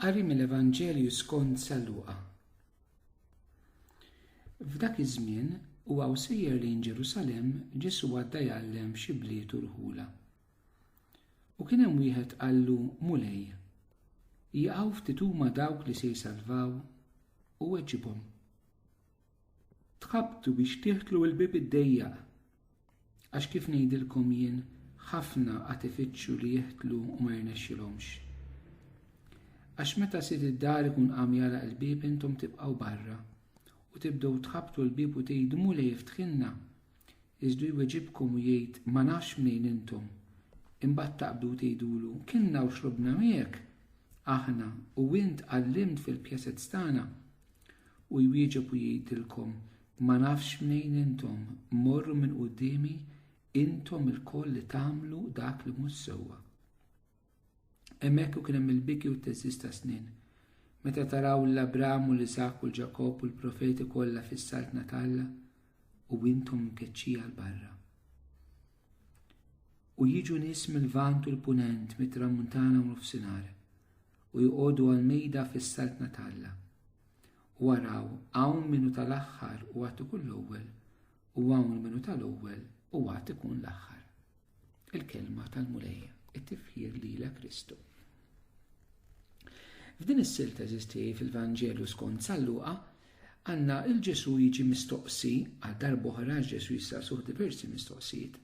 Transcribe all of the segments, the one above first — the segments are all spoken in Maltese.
Qari mill-Evanġelju skont San Luqa. F'dak iż-żmien u għaw sejjer lejn Ġerusalemm Ġesu għadda jgħallem f'xi bliet u rħula. U kien hemm wieħed qallu Mulej, jaqgħu ftit huma dawk li se jsalvaw u weġibhom. Tħabbtu biex tidħlu l-bieb id-dejjaq. Għax kif ngħidilkom jien, ħafna qad ifittxu li jidħlu u ma jirnexxilhomx. Għax meta sid id-dar ikun qam jagħlaq il-bieb intom tibqgħu barra, u tibdew tħabbtu l-bieb u tgħidu, 'Mulej iftħilna! Iżdu jweġibkom u jgħid, Ma nafx mnejn intom. Imbagħad taqbdu u tgħidulu, Kilna u xrobna miegħek, aħna, u int għallimt fil-pjazez tagħna. U jwieġeb u jgħidilkom, Ma nafx mnejn intom, morru minn quddiemi intom ilkoll li tagħmlu dak li mhux sewwa. Hemmhekk u kien hemm il-biki u t-teżżiż ta' snien. Meta taraw l Abram u l-Iżak u l-Ġakobb u l-profeti kollha fis-saltna ta' Alla u intom mkeċċija l barra. U jiġu nies mill-Vant u l-Punent, mit-Tramuntana u nofsinhar u jqogħdu għal-mejda fis-saltna talla. U waraw hawn minnu tal-aħħar u għad ikun l-ewwel u hawn minnu tal-ewwel u għad ikun l-aħħar. Il-kelma tal-Mulej, it-tifħir li la Kristu. F'din is-sil teżisti fil-Vanġelu skont Salluqa, għanna il-Ġesu jiġi mistoqsi għal darbohra Ġesu jistaqsuh diversi mistoqsijiet.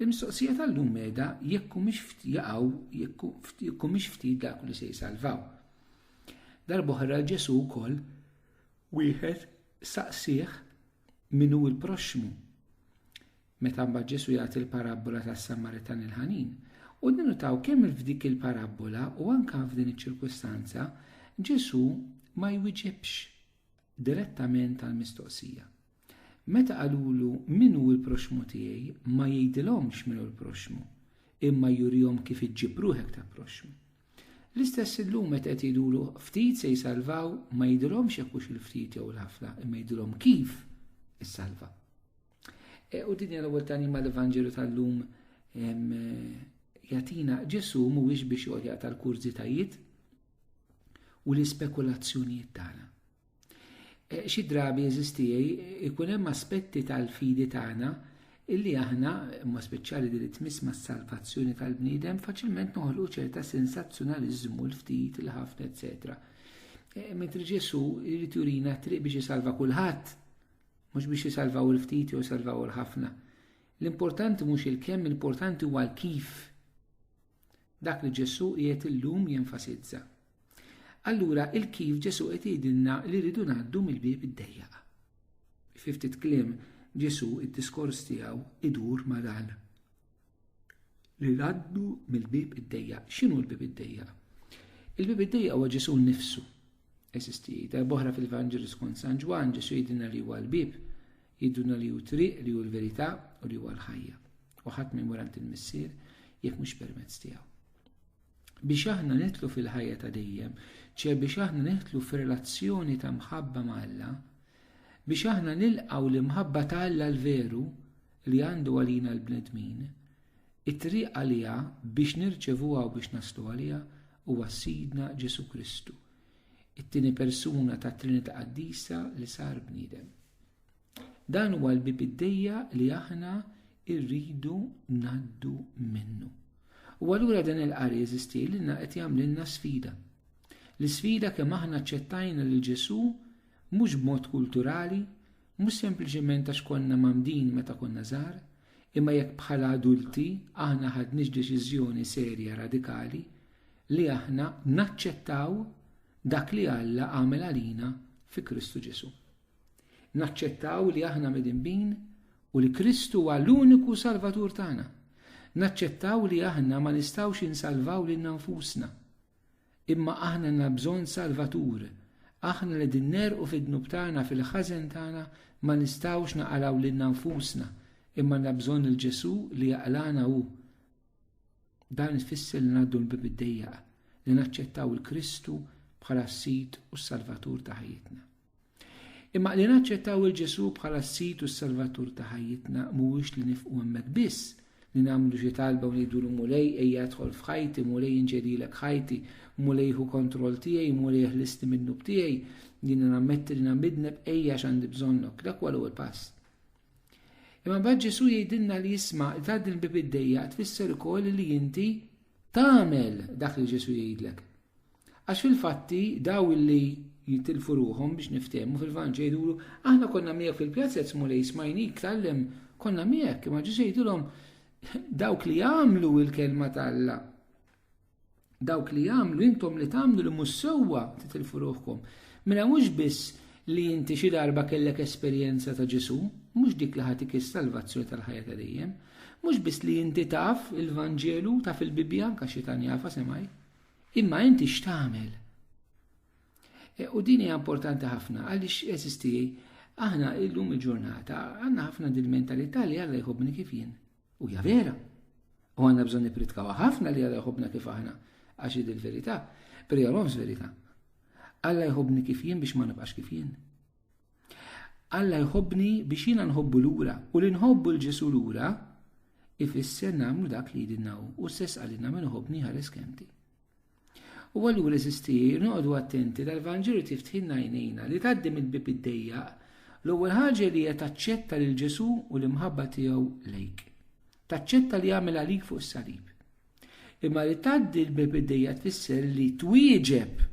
Il-mistoqsija tal-lum meda jekku mhix jaqaw jekku mhix ftit dak li se jsalvaw. Darbohra Ġesu wkoll wieħed saqsih min hu l-proxxmu. Meta mbagħad Ġesù jagħti l-parabbola tas-Samaritan il-ħanin, u ninutaw kemm f'dik il-parabbola u anke f'din iċ-ċirkustanza, Ġesù ma jwiġibx direttament għal mistoqsija. Meta qalulu min hu l-proxmu tiegħi ma jgħidilhomx min hu l-proxmu, imma jurihom kif iġġib ruħek ta' proxmu. L-istess illum meta qed jgħidulu ftit se jsalvaw ma jgħidilhomx jekk hux il-ftit jew l-ħafna, imma jgħidilhom kif issalva. E, u din l-ewwel tani ma l-Evanġelu tal-lum jatina Ġesu mhuwiex biex joqgħod tal-kurżitajiet u l-ispekulazzjonijiet tagħna. E, xi drabi eżistijaj ikun hemm aspetti tal-fidi tagħna illi aħna, ma speċjali li tmiss ma' salvazzjoni tal-bniedem, faċilment noħolqu ċerta sensazzjonaliżmu l-ftit, l-ħafna, eccetera. E, mentri Ġesu jrid jurina triq biex jisalva kulħadd Mhux biex isalvaw il-ftit jew isalvaw il-ħafna. L-importanti mhux il-kemm, l-importanti huwa l-kif. Dak li Ġesù qiegħed illum jenfasizza. Allura il-kif Ġesù qed jgħidilna li rridu ngħaddu mill-bieb id-dejjaq. Fi ftit kliem Ġesù id-diskors tiegħu idur ma' dan. li jgħaddu mill-bieb id-dejjaq. X'inhu l-bieb id-dejjaq? Il-bieb id-dejjaq huwa Ġesu nnifsu. Eżisti darb'oħra fil-Vanġelu skont San Ġwann, Ġesu jgħidilna li huwa l-bieb, jgħidulna li hu triq, li hu l-verità u li huwa l-ħajja. U ħadd ma jmur għand il-Missier jekk mhux permezz tiegħu. Biex aħna nitlu fil-ħajja ta' dejjem, ċe biex aħna nitlu f'relazzjoni ta' mħabba ma' Alla, biex aħna nilqaw l-imħabba ta' Alla l-veru, li għandu għalina l-bnedmin, it-triq għaliha biex nirċevuha u biex naslu għaliha huwa Sidna Ġesu Kristu, it-tieni persuna tat-Trinità Qaddisa li sar bniedem. Dan huwa l-bib id-dejja li aħna rridu ngħaddu minnu. U allura dan il-qari jeżisti lilna qed jagħmlilna sfida. L-isfida kemm aħna ċċettajna lil Ġesu mhux b'mod kulturali, Mhux sempliċement għax konna mamdin meta konna żgħar, imma jekk bħala adulti aħna ħadniex deċiżjoni serja radikali li aħna naċċettaw dak li Alla għamel għalina fi Kristu Ġesu. Naċċettaw li aħna midinbin u li Kristu huwa l-uniku salvatur tagħna. Naċċettaw li aħna ma nistgħux insalvaw lil nfusna. Imma aħna għandna bżonn Salvatur. Aħna li qegħdin negħrqu fid-dnub tagħna fil-ħażen tagħna ma nistgħux naqalgħu lilna nfusna, imma għandna bżonn lil Ġesù li jaqlagħna hu. Dan ifisser li ngħaddu l-bieb id-dejjaq, li naċċettaw il-Kristu bħala s-Sid u s-Salvatur ta' ħajjitna. Imma li naċċettaw il Ġesù bħala s-Sid u s-Salvatur ta' ħajjitna mhuwiex li nifqu hemmhekk biss, li nagħmlu xi talba u ngħidulu Mulej ejja idħol f'ħajti, Mulej inġedilek ħajti, Mulej ħu kontroll tiegħi, Mulej ħlisti min-nub tiegħi, jiena nammetti li namidneb ejja għax għandi bżonnok, dak huwa l-ewwel pass. Imma bad Ġesù jgħidilna li jisma' li tgħaddi l-bib id-dejja tfisser ukoll li inti tagħmel dak li Ġesù jgħidlek. Għax fil-fatti daw illi jitilfu ruħhom biex niftehmu fil-Vanġel jgħidulu, aħna konna miegħek fil-pjazza qed Mulej smajnik tgħallem, konna miegħek, imma Ġesu jgħidilhom dawk li jagħmlu l-kelma ta' Alla dawk li jagħmlu intom li tagħmlu li mhux sewwa titilfu ruħkom. Mela mhux biss li inti xi darba kellek esperjenza ta' Ġesu, mhux dik li ħatik is-salvazzjoni tal-ħajja ta' dejjem, mhux biss li inti taf il-Vanġelu, taf il-Bibbja, anke xi tan jafa semaj. Imma inti x'tagħmel? E, u din hija importanti ħafna għaliex eżisti aħna illum il-ġurnata għandna ħafna din mentalità li Alla jħobbni kif jien. U hija vera. U għandna bżonn nipritkaw ħafna li Alla jħobbna kif aħna għax id il-verità, perjoloms verità. Alla jħobbni kif jien biex ma nibqax kif jien. Alla jħobbni biex jiena nħobbu lura u li nħobbu l Ġesu lura ifisser nagħmlu dak li jidinna hu u stess għalina min iħobbni ħares kemti. U allura eżisti noqogħdu attenti dal-Vanġelu tiftħinna jnejna li tgħaddi mill-bib id-dejjaq l-ewwel ħaġa li hija taċċetta lil Ġesu u l-imħabba tiegħu lejk. Taċċetta li jagħmel għalik fuq is-salib. Imma li tgħaddi l-bib id-dejjaq tfisser li twieġeb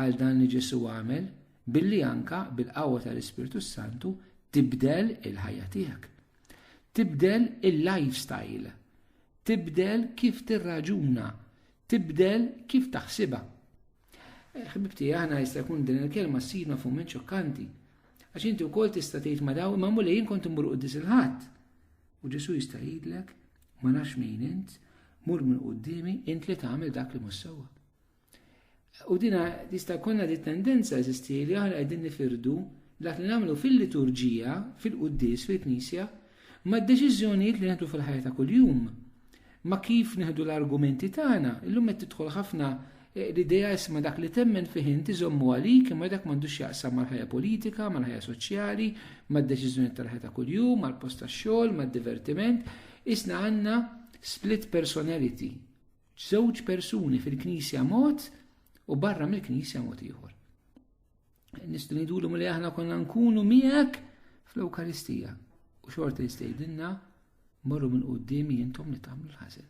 għal dan li Ġesu għamel Billi anka bil-qawwa tal-Ispirtu s-Santu tibdel il-ħajja tiegħek. Tibdel il-lifestyle. Tibdel kif tirraġuna. Tibdel kif taħsibha. Eh, ħbibti, aħna jista' jkun din il-kelma ssirna fuq minn ċokkanti. Għax inti wkoll tista' tgħid ma daw imma mulej jien kont immur quddis il-ħadd. U Ġesu jista' jgħidlek ma nafx min int, mur minn qudiemi int li tagħmel dak li mhux sewwa. U dina tista' jkollna di tendenza eżisti li aħna qegħdin nifirdu dak li nagħmlu fil-liturġija, fil-quddis, fil-knisja, ma' deċiżjonijiet li nieħdu fil-ħajja ta' kuljum. Ma' kif nieħdu l-argumenti tagħna, illum qed tidħol ħafna eh, l-idea isma dak li temmen fih inti żommu għalik imma dak m'għandux jaqsam mal-ħajja politika, mal-ħajja soċjali, mad-deċiżjonijiet tal-ħajja ta' kuljum, mal-post tax-xogħol, mad-divertiment, isna għandna split personality Żewġ persuni fil-Knisja mod u barra mill-Knisja mod ieħor. Nistgħu ngħidulhom li aħna konna nkunu miegħek fl-Ewkaristija u xorta jistgħidilna morru minn quddiem jintom li tagħmlu l-ħażen.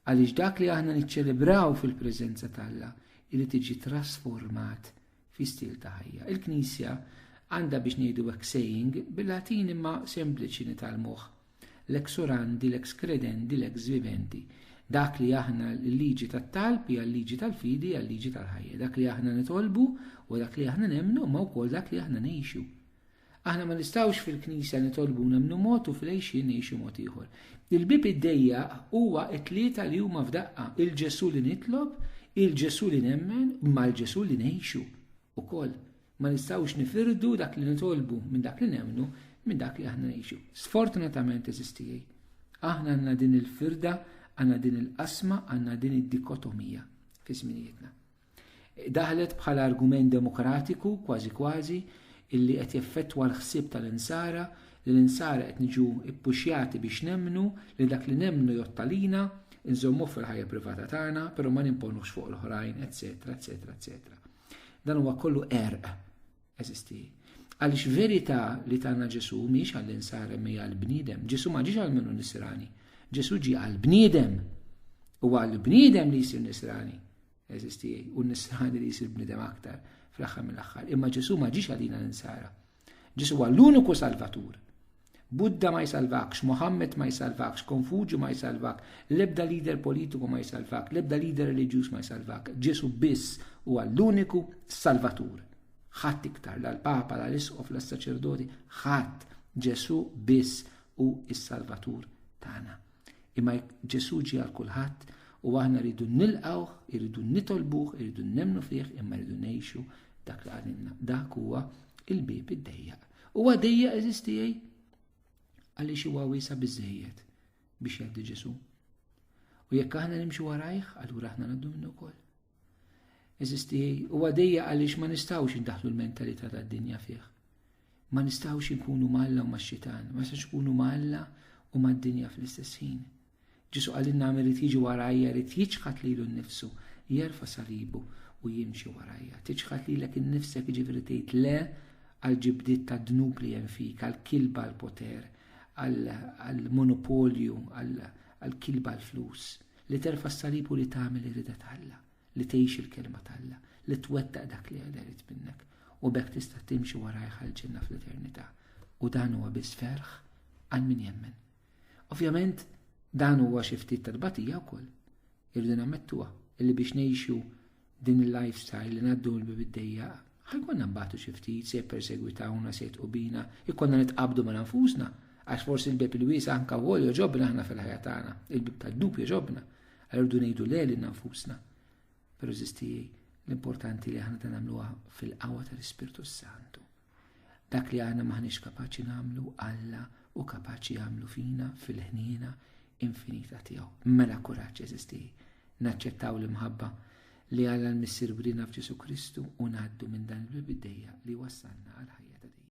Għaliex dak li aħna niċċelebraw fil-preżenza t'Alla irid tiġi trasformat fi stil ta' ħajja. Il-Knisja għandha biex ngħidu hekk saying bil-Latin imma sempliċi nitalmuh. Lex orandi, lex credendi, lex vivendi. Dak li aħna l-liġi tat-talb hija l-liġi tal-fidi hija l-liġi tal-ħajja. Dak li aħna nitolbu u dak li aħna nemmnu ma wkoll dak li aħna ngħixu. Aħna ma nistgħux fil-Knisja nitolbu nemmnu mod u fl-għejxien ngħixu mod ieħor. Il-bieb iddejjaq huwa t-tlieta li huma f'daqqa, il-Ġesù li nitlob, il-Ġesù li nemmen, mal-Ġesù li ngħixu wkoll. Ma nistgħux nifirdu dak li nitolbu minn dak li nemmnu minn dak li aħna ngħixu. Sfortunatament eżiż tiegħi, aħna għandna din il-firda, għandna din il-qasma, għandna din id-dikotomija fi żminijietna. Daħlet bħala argument demokratiku, kważi kważi, illi qed jeffettwa l-ħsieb tal-Insara, li l-Insara qed niġu ppuxjati biex nemmnu li dak li nemmnu jgħodd għalina, inżommuh fil-ħajja privata tagħna, però ma nimponuhx fuq l-oħrajn, eċċetera, eċċetera, eċċetera. Dan huwa kollu erq, eżisti. Għaliex verità li tagħna Ġesu mhix għall-insara mi għall-bniedem. Ġesu ma ġiex għal minnu nisrani. Ġesu ġi għall-bniedem. U għall-bniedem li jsir nisrani. Eżisti u nisħani li jisir bnidem aktar fl-aħħar mill-aħħar. Imma Ġesu ma ġiex għalina l-insara. Ġesu huwa l-uniku salvatur. Buddha ma jsalvakx, Mohammed ma jsalvakx, Konfuġu ma jsalvak, l-ebda lider politiku ma jsalvak, l-ebda lider reliġjuż ma jsalvak. Ġesu biss huwa l-uniku salvatur. Ħadd iktar, la l-Papa, la l-Isqof, la s-saċerdoti, ħadd Ġesu biss u s-Salvatur tagħna. Imma Ġesu ġie għal kulħadd u aħna rridu nilqawh, irridu nitolbuh, irridu nemmnu fih, imma rridu ngħixu dak li għalinna. Dak huwa il-bib id-dejjaq. Huwa dejjaq eżiz tiegħi għaliex huwa wiesa biżejjed biex jgħaddi Ġesu. U jekk aħna nimxu warajh, allura aħna ngħaddu minnu wkoll. Eżisti u għadija għaliex ma nistgħux indaħlu l-mentalità tad-dinja fih. Ma nistgħux inkunu malla u max-xitan, ma nistgħux ikunu malla u mad-dinja fl-istess ħin. Ġisu għalin nagħmel li tiġi warajja li jiċħat lilu nnifsu, jerfa' salibu u jimxi warajja. Tiċħat lilek innifsek jiġifieri tgħid le għal ġibdiet ta' dnub li hemm fik, għal kilba l-poter, għal monopolju, għal kilba l-flus. Li terfa' s-salib u li tagħmel irida t'Alla, li tgħix il-kelma t'Alla, li twettaq dak li Alla jrid minnek, u b'hekk tista' timxi warajh għall-ġenna fl-eternità. U dan huwa biss ferħ għal min jemmen. Ovvjament, dan huwa xi ftit tal-batija wkoll. Irridu nammettuha illi biex ngħixu Din il-lifestyle li ngħaddu l biddejja ħajkonna nbatu xi ftit se jippersegwitawna se jitqu bina, ikonna nitqabdu ma' nfusna għax forsi l-bib il-wiesa anka wol joġobna aħna fil-ħajja tagħna, il-bib tad-dub joġobna, għardu ngħidu le lil nfusna. Però żisti l-importanti li aħna ta' nagħmluha fil-qawwa tal-Ispirtu Santu. Dak li aħna maħniex kapaċi nagħmlu Alla u kapaċi jagħmlu fina fil-ħniena infinita tiegħu. Mela kuraġġ eżisti. Naċċettaw l-imħabba li Alla l-Missier wrina f'Ġesu Kristu u ngħaddu minn dan il-bibdejja li wassalna għal ħajja ta' dejjem.